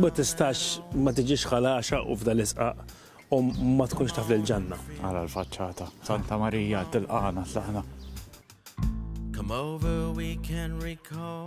Ma tistax ma tiġix ħalaxa u f'dal isqaq u ma tkunx taf l-ġanna. Għala l-faċċata, Santa Marija tilqana tlaqna. Come over, we can recall.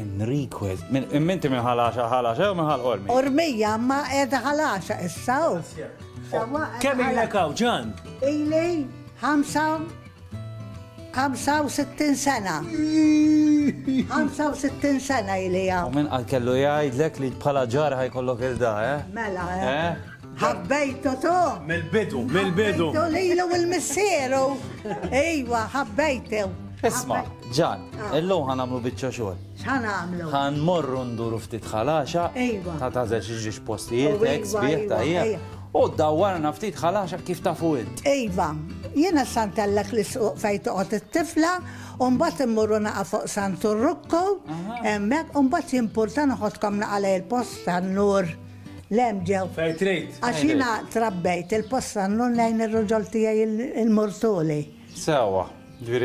Enrique, minti minn ħalaxa ħalaxa jew minn ħal qormi? Qormija ma qiegħda ħalaxa issa u. Kemm ilek hawn ġan? Ili 65 sena. 65 sena ili hawn. U minn qal kellu jgħidlek li bħala ġar ħajkollok il-da, eh? Mela, eh? eh? Ħabbejtu tu! Mill-bidu, mill-bidu! Ħabbejtu lilu u l-missieru! Ejwa, ħabbejtu! Isma, ġan, ah. illum ħan għamlu bieċa xogħol. X'ħan għamlu? Ħan morru nduru ftit ħalaxa. Ejwa. Ta' tażel xi ġiex postijiet, oh, ex bieħ ta' U dawwarna ftit ħalaxa kif ta' fuq. Ejwa, jiena santellek li suq fejn toqgħod it-tifla Umbat immurru naqa fuq Santu Rukku, emmek, umbat jimporta naħodkom naqa lej il-post tan-nur. Lem ġew. Fair trade. Għax jiena trabbejt il-posta nnun lejn ir-ruġol tiegħi il-murtuli. Sewwa.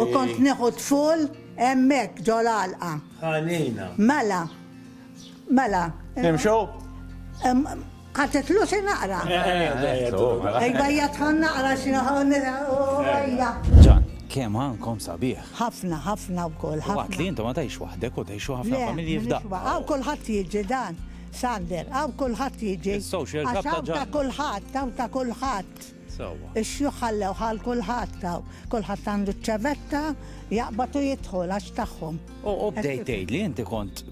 U kont nieħu tful hemmhekk ġo l-għalqa. Ħanina. Mela. Mela. Nimxu? Għatetlu xi naqra. Ejba jgħatħan naqra xi naqra. Ġan, kemm għankom sabiħ. Ħafna, ħafna wkoll. Waqt li intom ma tajx waħdek u tajxu ħafna familji f'daqqa. Kulħadd jiġi dan. Sander, hawn kulħadd jiġi. Is-social club ta' Ġanna. Għax hawn ta' kulħadd, hawn ta' kulħadd. Sewwa. Ix-xjuħ ħallewh għal kulħadd hawn. Kulħadd għandu ċ-ċevetta, jaqbad u jidħol għax tagħhom. U bdejt tgħidli inti kont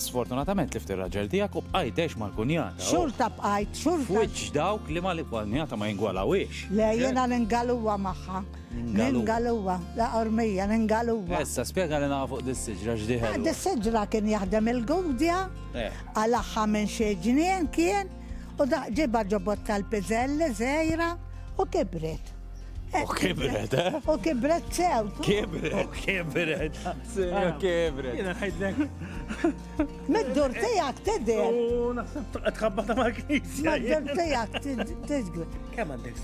sfortunatament tlift ir-raġel tiegħek u bqajt tgħix mal-kunjata. Xorta bqajt, xorta. F'wiċċ dawk li mal-kunjata ma jingwalawhiex. Le, jiena ningaluha magħha. Ningaluwa, la qormija, ningaluwa. Issa, spjega li naqa fuq dis-siġra x'di ħelwa. Fuq dis-siġra kien jaħdem il-Gudja, qalagħha minn xi ġnien kien, u ġibha ġo bott tal-piżelli żgħira u kibret. U kibret, eh? U kibret sew. Kibret. U kibret. Sew kibret. Jiena ngħidlek. Mid-dur tiegħek tidher. U naħseb tqabbata mal-knisja. Mid-dur tiegħek tidher. Kemm għandek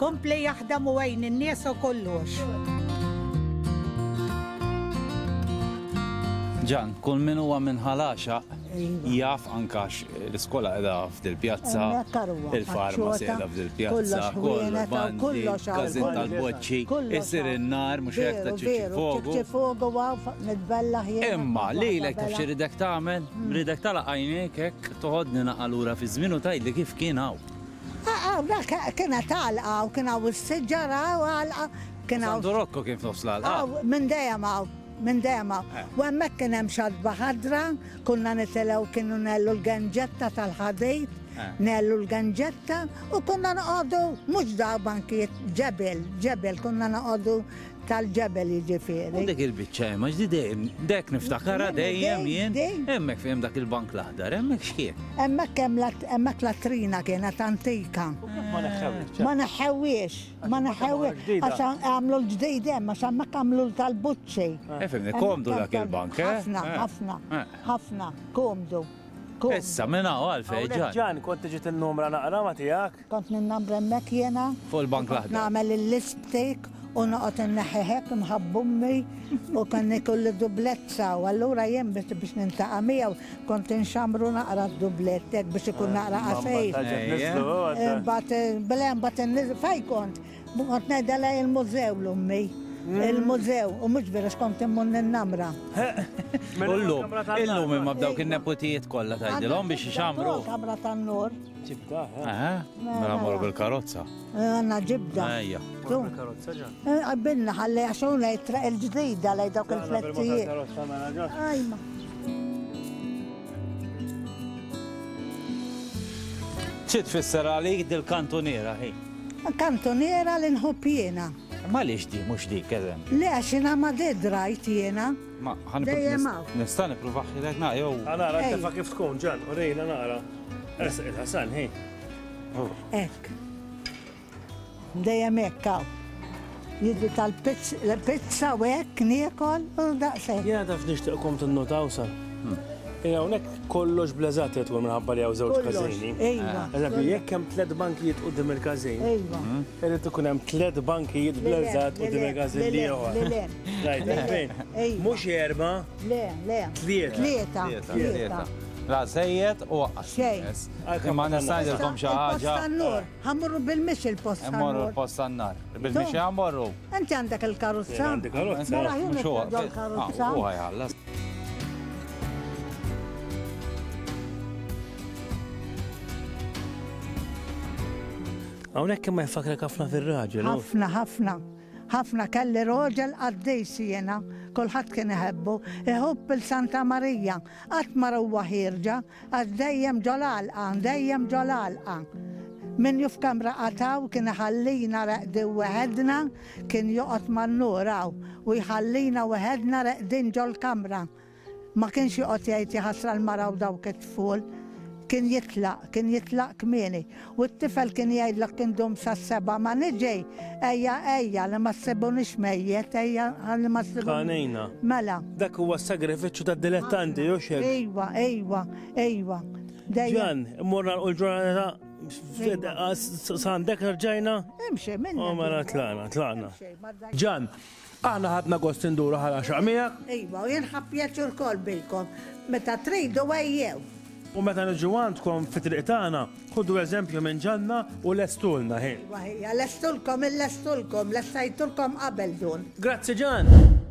Kompli jaħdem u għin in-nies u kollox. Ġan, kull min huwa minn ħalaxa iva. jaf ankax l-iskola qiegħda f'dil pjazza, il-farmaċi qiegħda f'dil pjazza, kollox każin tal-boċċi, isir in-nar mhux hekk ta' ċiċi fogu. fogu għaf nitbella ħjien. Imma lilek taf xi ridek tagħmel? Hmm. Ridek tala' għajnejk hekk toħodni naqalura fi żmien u tgħidli kif kien hawn. Hawnhekk kien qed għalqa u kien hawn is-siġara u għalqa kien hawn. Santu Rokko kien f'nofs l-għalqa. Hawn, minn dejjem hawn, minn dejjem hawn. U hemmhekk kien hemm xatba ħadra, konna nitilgħu kienu ngħellu l-genġetta tal-ħadid, ngħellu l-genġetta u konna noqogħdu mhux dawk bankijiet, ġebel, ġebel, konna noqogħdu Tal-ġebel jiġifieri. U dik il-biċċa hemm għax di dejjem dek niftakarha dejjem jien. Hemmhekk fejn dak il-bank l-aħdar, hemmhekk x'kien? Hemmhekk hemm hemmhekk latrina kienet antika. Ma neħħewhiex. Ma neħħewhiex, ma neħħewhiex. Għax għamlu l-ġdid hemm għax hemmhekk għamlu tal-buċċi. Fimni, komdu dak il-bank, eh? Ħafna, ħafna, ħafna, komdu. Issa, minn hawn għalfejn ġan. Ġan, kont tiġi tinnumra naqra ma tiegħek? Kont ninnambra hemmhekk jiena. Fuq il-bank l-aħdar. Kont nagħmel il-lipstick u noqgħod inneħħi hekk imħabba ommi u kien ikolli dublezza u allura jien biex niltaqa' miegħu kont inxammru naqra d-dublett hekk biex ikun naqra qasir. Imbagħad le imbagħad inniżel fejn kont? Kont ngħidha lei il-mużew 'l ommi. Il-mużew u mhux veru x'kont immur ninnamra. U llum? Illum imma b'dawk in-neputijiet kollha tgħidilhom biex ixammru? Kamra tan-nur. Ġibda, eh? Aha, mela morru bil-karozza. Eh, għanna ġibda. Ejja. Bil-karozza ġan. Eh, għabbilna ħalli għaxun lej traq il-ġdida lej dawk il-flettijiet. Ajma. ċit fisser għalik dil-kantuniera hi? Kantuniera li nħobb jiena. Ma li xdi, mux dik, eżem. Le, xina ma di drajt jiena. Ma ħan Dejjem hawn. nista' nipprova ħilek na jew. Għanara Ej. tefa kif tkun ġan, u rejna nara. Ersaq il-ħasan, hi. Hekk. Dejjem hekk hawn. Jiġi tal-pizza u hekk niekol u daqshekk. Jiena taf nixtieqkom tinnotaw sa. Ejja hawnhekk kollox bleżat li tkun minħabba li hawn żewġ Kollox, każini. ejwa. Eżempju, jekk hemm tliet bankijiet quddiem il-każin, Ejwa. irid ikun hemm tliet bankijiet bleżat quddiem il-każin l-ieħor. Mhux erba'. Le, le. Tlieta. Tlieta. La żejjed u waqqas. Xejn. Imma nista' ngħidilkom xi ħaġa. Ħa mmorru bil-mix il-post tan-nar. Immorru l-post tan-nar. Bil-mixi ħa mmorru. Inti għandek il-karozza? Għandi karozza. Mela ħa nitlob il-karozza. Huwa jħallas. Hawnhekk imma jfakkrek ħafna fir-raġel. Ħafna, ħafna. Ħafna kelli roġel qaddis jiena, kulħadd kien iħebbu, iħubb il Santa Marija, qatt mara huwa ħierġa, għax dejjem ġol-għalqa, dejjem ġol-għalqa. Min ju f'kamra qatt hawn kien iħallina reqdin weħedna, kien joqgħod man-nur hawn u jħallina weħedna reqdin ġol-kamra. Ma kienx joqgħod jgħid jaħasra l-mara u dawk it-tful. Kien jitlaq, kien jitlaq kmieni. U t-tifel kien jgħidlok indum sas-sebgħa, ma niġi! Ejja, ejja, li ma ssibunix mejjet, ejja, ħalli ma ssibunix. Tħanejna. Mela. Dak huwa s-sagrifiċċju tad-dilettanti, u x'hekk? Ejwa, ejwa, ejwa. Dejjem. Ġan, immorru nagħlqu l-ġurnata Sandek rġajna? Imxi, minn. Oh, mela tlaqna, tlaqna. Ġan, Aħna ħadna gost induru ħal għaxaq miegħek. Iva, u jien ħadt pjaċir ukoll bikom. Meta tridu ejjew. U meta niġu għandkom fit-triq tagħna, ħudu eżempju minn ġanna u lestulna ħin. Iva, ħija, lestulkom, illestulkom, lessajtulkom qabel dun. Grazzi Ġann!